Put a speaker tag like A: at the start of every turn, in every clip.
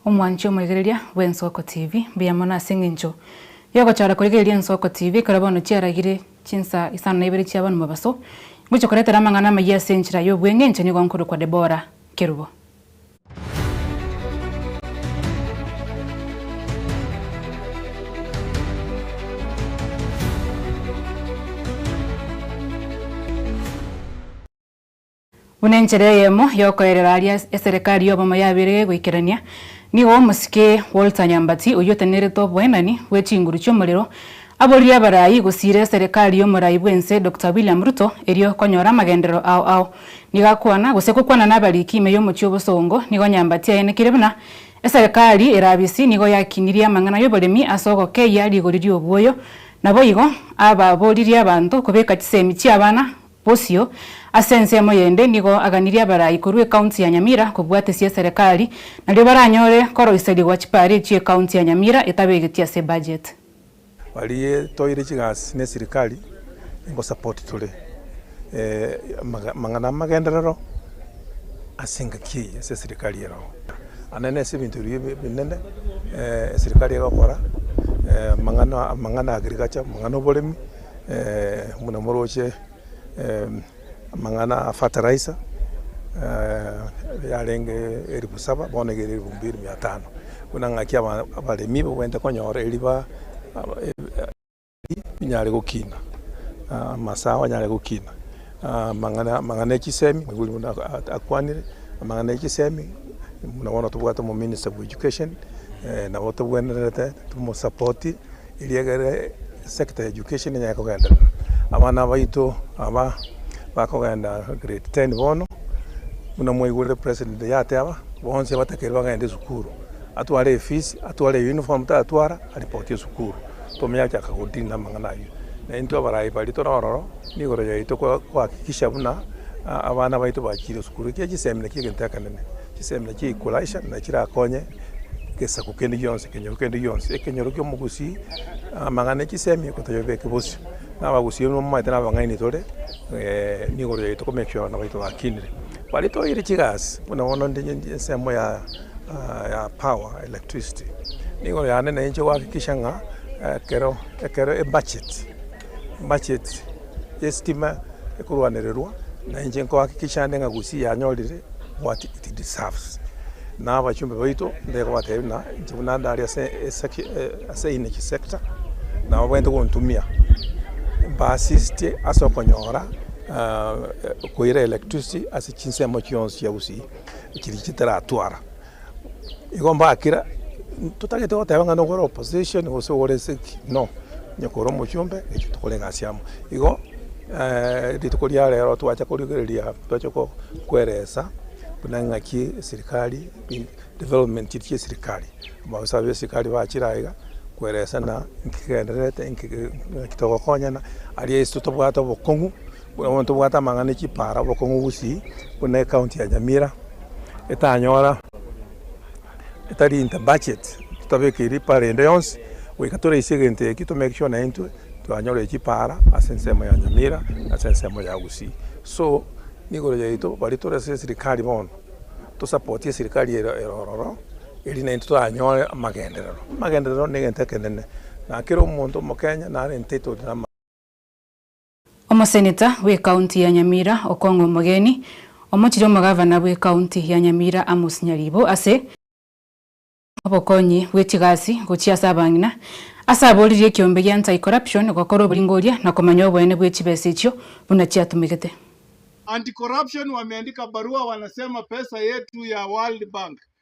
A: Omwanche omoigereria bw'Ensoko TV, mbuya mono ase eng'encho yogochora koigereria Ensoko TV ekero bono chiaragire chinsaa isano na ibere chi'abana mobaso. Ingochia koretera amang'ana amayia ase enchera y'obweng'encho nigo nkorokwa Deborah Kerubo. Buna enchera eyemo y'okoerera aria eserekari y'obomo yabeire goikerania, nigo omosike Walter Nyambati oyio otenenerete oboenani bwe chinguru chi'omorero Aboririe abarai gosiire eserekari y'omorai bw'ense Doctor William Ruto erio konyora amagenderero ao ao. Nigo akwana gose gokwana nabariki ime y'omochie obosongo nigo nyamba tiaye nekire buna eserekari erabisi nigo yakinirie amang'ana y'oboremi ase ogokeyia rigori ri'obuoyo naboigo ababoririe abanto kobeka chisemi chi'abana bosio ase ense emoyende nigo aganirie abarai korwa ecounty ya Nyamira kobwatesia eserekari nario baranyore koroiserigwa chipari chi'ecounty ya Nyamira etabegeti ase budget. Barie
B: toire chigasi ne sirikari engo support tore amang'ana amagenderero ase engaki eye ase sirikari ero. Ande nase ebinto biria ebinene sirikari egokora amang'ana amang'ana agriculture amang'ana oboremi buna moroche. Amang'ana a fertilizer yarenge elifu saba bono nigo ere elifu mbili mia tano buna ng'aki abaremi babwenerete konyora eriba rinyare gokina amasaha anyare gokina amang'ana e chisemi nigo oria buna akwanire amang'ana e chisemi buna bono tobwate omominista bwa education nabo tobwenerete tomosapotie. Erio ekero sector ya education enyare kogenda, abana baito aba bakogenda grade ten bono, buna mwaigurete president yateba, bonsi batakeire bagende sukuru, atware efees, atware uniform, tatwara aripoti esukuru, tome yachaka go deal namang'ana ayio. Na intwe abarai baria tore ororo, nigoro yaito ko hakikisha buna abana baito bachire sukuru, ekiagera chisemina chiegento ekenene, chisemina chia equalizer nachiakonye. Gesaku kende gionsi, ekenyoro kende gionsi, ekenyoro ki'omogusii, amang'ana e chisemi gotoyebeke bosio. Na abagusii erio nibamoete na abang'aini tore igoro yaito ko make sure nabaito bakinire. Baria toeire chigasi buna bono nde ensemo ya ya power, electricity, nigoro yane nayo inche goakikisha ng'a ekero ekero ebudget. macheti y'esitima ekorwanererwa, na inche nkohakikisha ande ng'a Gusii yanyorire what it deserves. Na abachumbe baito mbaiga kobatebia buna inche buna ndare ase esegi ase energy sector, nabo baete gontumia mba assist ase okonyora koira electricity ase chinsemo chionsi chia Gusii chiri chitaratwara. Igo mbakera, totagete goteba ng'a nogore opposition gose ogore ase ki, no, onye kore omochombe naintwe tokore egasi amo. Igo rituko ria rero twacha korigereria twache ko koeresa buna ng'aki eserikari bi development chiria chia eserikari, abaosae ba eserikari bachire aiga koeresa ng'a nki kegendererete, nki ki ng'aki togokonyana, aria ase totobwate obokong'u. Buna omonto obwate amang'ana e chipara obokong'u gusii, buna ecounty ya Nyamira etanyora, etari in the budget, totabekeri ripara ende yonsi, goika toraise egento ekio to make sure naintwe twanyorire chipara ase ensemo ya Nyamira na ase ensemo ya Gusii. So nigoro yaito baria tore ase esirikari bono, tosapotie esirikari ero ero ororo, erio naintwe twanyore amagenderero. Amagenderero na egento ekenene, na kera omonto omokenya nare entitled na ama. Omoseneta
A: bw'ekaunti ya Nyamira Okong'u Omogeni, omochirie omogavana bw'ekaunti ya Nyamira Amos Nyaribo ase obokonyi bwe chigasi gochia ase abang'ina, ase aboririe ekiombe gia Anti Corruption gokora oboringoria na komanya oboene bwe chibesa echio buna chiatumegete. Anti
C: Corruption wameandika barua wanasema pesa yetu ya World Bank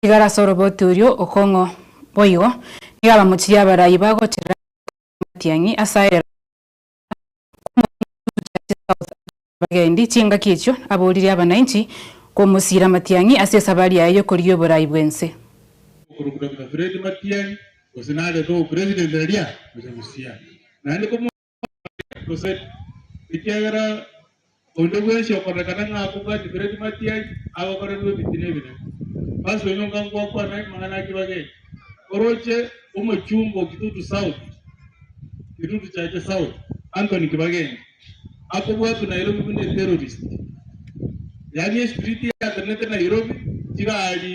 A: Igoro ase oroboti oria okong'u boigo, nigo abamochirie abarai bagocherera goika amatiang'i ase aye rogoro rw'Omonene gotucha ase South Africa abagendi chingaki echio aboririe abanainchi komosiira amatiang'i ase esabari yaye y'okorigia oborai bw'ense. Okorwa buna buna
D: Fred Matiang'i, gose nare no president eria, ocha gosiara naende komosiira. Omoika, gose ekiagera onde bwensi okorekana ng'a akobwati biredi matiai, agokorerwa ebitina ebinene. Basi onye onga ngwakwana amang'ana a kibaga eke, oroche omochungo o Kitutu South, Kitutu Chache South, Anthony Kibagenge, akobwatwa Nairobi buna eterrorist, yaani espiriti yatenenete Nairobi, chigari,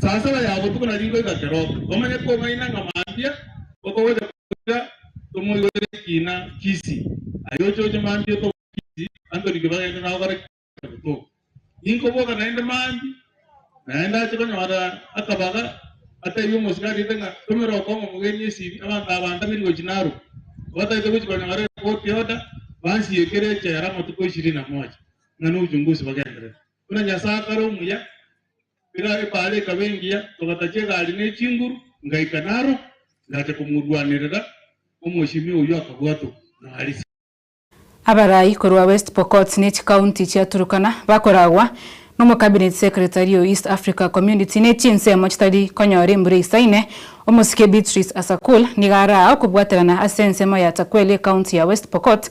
D: Sasaba ya botuko na riko igakeroka, komanye kong'aina ng'a mambia okogocha goika tomoigorere ekina Kisii. Aye ochoche mambia otoboke Kisii, antorikio bagende nao bare Kisii na botuko. Ninkoboka naende mambia, naende ache konyora akabaga, atebie omosike arete ng'a tomera okong'u omogeni esiri, abanto aba ntabiri gochia narubo. Obatagete gochia konyora ekoti y'oda, bansiye ekero echera amatuko ishirini na moja, ng'a n'obuchungusi bagenderere. Buna Nyasae akare omuya, erio ebaale ekaba engiya, togatachia egari ne chinguru, ngaika naro, ngacha komorwanerera, omochimi oyio akabwatwa, nare. Abarai
A: korwa West Pokot ne chikaunti chia Turkana bakoragwa n'omocabinet secretary o East Africa Community ne chinsemo chitari konyora embura eisaine, Omosike Beatrice Asakul nigo araa okobwaterana ase ensemo ya Takweli ekaunti ya West Pokot